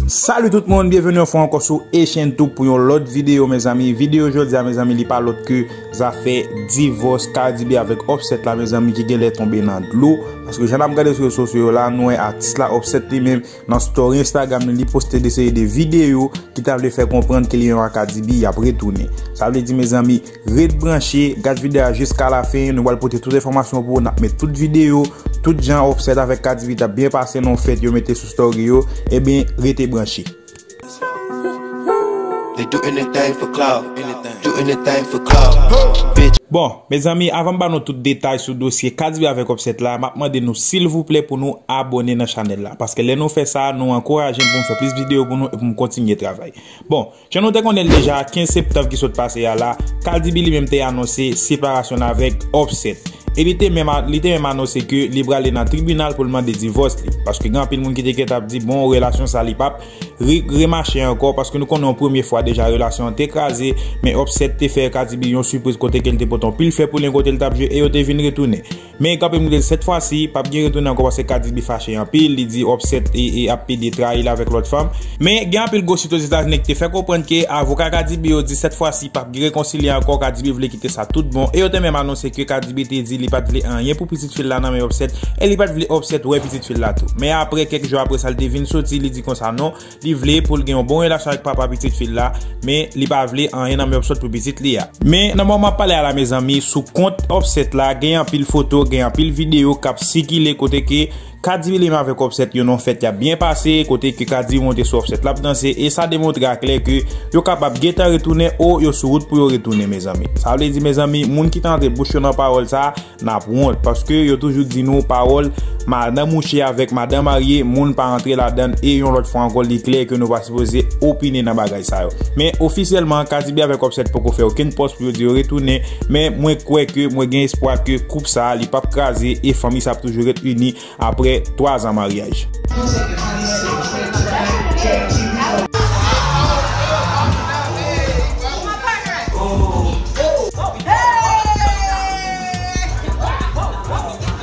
Salut tout moun, byenveni yon fwa ankò sou Echentou pou yon lòt videyo mezanmi Videyo jòdia mezanmi li pa lòt ke zafè divòs Cardi B avèk Offset la mezanmi ki genlè tonbe nan dlo Paske jan nap gade sou rezo sosyo yo la nou wè atis la Offset li menm Nan story Instagram li, li poste de seri de videyo ki ta vle fè konprann ke li yon Akadibi yap retounen. Sa vle di mezanmi, ret branche, gad videyo a jiska la fen, nou pral pote tout enfòmasyon pou ou, nap met tout videyo, tout jan Offset avèk Kadibi tap byen pase nan fèt yo mete sou story yo, ebyen rete branche. Bon, mezanmi avan m ba nou tout detay sou dosye Kadsby avèk Opset la, m ap mande nou silvouplè pou nou abone nan chanèl la. Paske lè nou fè sa, nou ankouraje m pou m fè plis videyo pou nou e pou m kontinye travay. Bon, jan nou te konnen l deja, 15 septanm ki sot pase a la, Kadby li menm te anonse separasyon l avèk Opset. e li te menm li te menm anonse ke li prale nan tribinal pou l mande divòs li paske gen anpil moun ki te gentan ap di bon relasyon sa li pap remache ankò paske nou konnen yon premye fwa deja relasyon an te kraze men Opset te fè Kadibi yon sipriz kote ke li te pote yon pil fè pou li kote li tap jwe e yo te vin retounen men gen anpil moun ki te di sèt fwa si pap gen retounen ankò paske Kadibi fache anpil li di Opset ap pede trayi l avèk lòt fanm. Men, gen anpil gwo sit Ozetazini ki te fè konprann ke avoka Kadibi yo di sèt fwa si pap gen rekonsilye ankò, Kadibi vle kite sa tout bon, e yo te menm anonse ke Kadibi te di li pat vle anyen pou pitit fi l la nan men Opsèt, e li pat vle Opsèt wè pitit fi l la tou. Men aprè, kèk jou aprè sa li te vin soti, li di konsa non, li vle pou l gen yon bon relasyon ak papa pitit fi l la, men li pa vle anyen nan men Opsot pou pitit li a. Men, nan moman map pale a la mezanmi, sou kont Opsèt la, gen anpil foto, gen anpil videyo kap sikile kote ke Kadi Willem avèk Offset yon fèt yap byen pase kote ke Kadi monte sou Offset lap danse e sa demontre a klè ke yo kapab gentan retounen ou yo sou wout pou yo retounen mezanmi. Sa vle di mezanmi moun ki ta antre bouch yo nan pawòl sa nap wont paske yo toujou di nou pawòl madan mouche avèk madan marye moun pa antre ladann e yon lòt fwa ankò li klè ke nou pa sipoze opine nan bagay sa. sa yo. Men ofisyèlman Kadibi avèk Offset poko fè okenn pòs pou yo di yo retounen, men mwen kwè ke mwen gen espwa ke koup sa li pap kraze e fanmi sa ap toujou ret ini aprè 3 zan maryaj.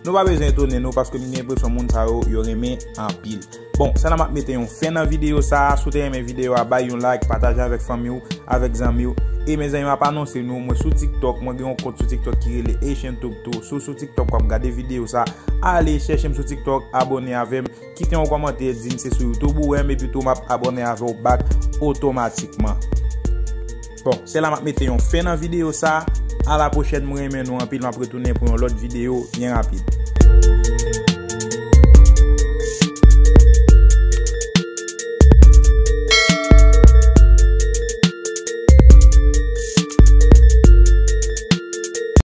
Nou pa bezwen etone nou paske m gen enpresyon moun sa yo yo renmen anpil. Bon, se la map mete yon fen nan videyo sa a, si w te renmen videyo a bay yon like, pataje avèk fanmi w, avèk zanmi w. E mezanmi map anonse nou, mwen sou tiktok, mwen gen yon kont sou tiktok ki rele Haitian Tube tou, si w sou tiktok wap gade videyo sa a, ale chèche m sou tiktok, abone avè m. Kite yon kòmantè dim se sou youtube ou wèm epitou map abòne avèw bak otomatikman. Bon se la map mete yon fen nan video sa, a la pwochèn mwen renmen nou anpil map retounen pou yon lòt video byen rapid.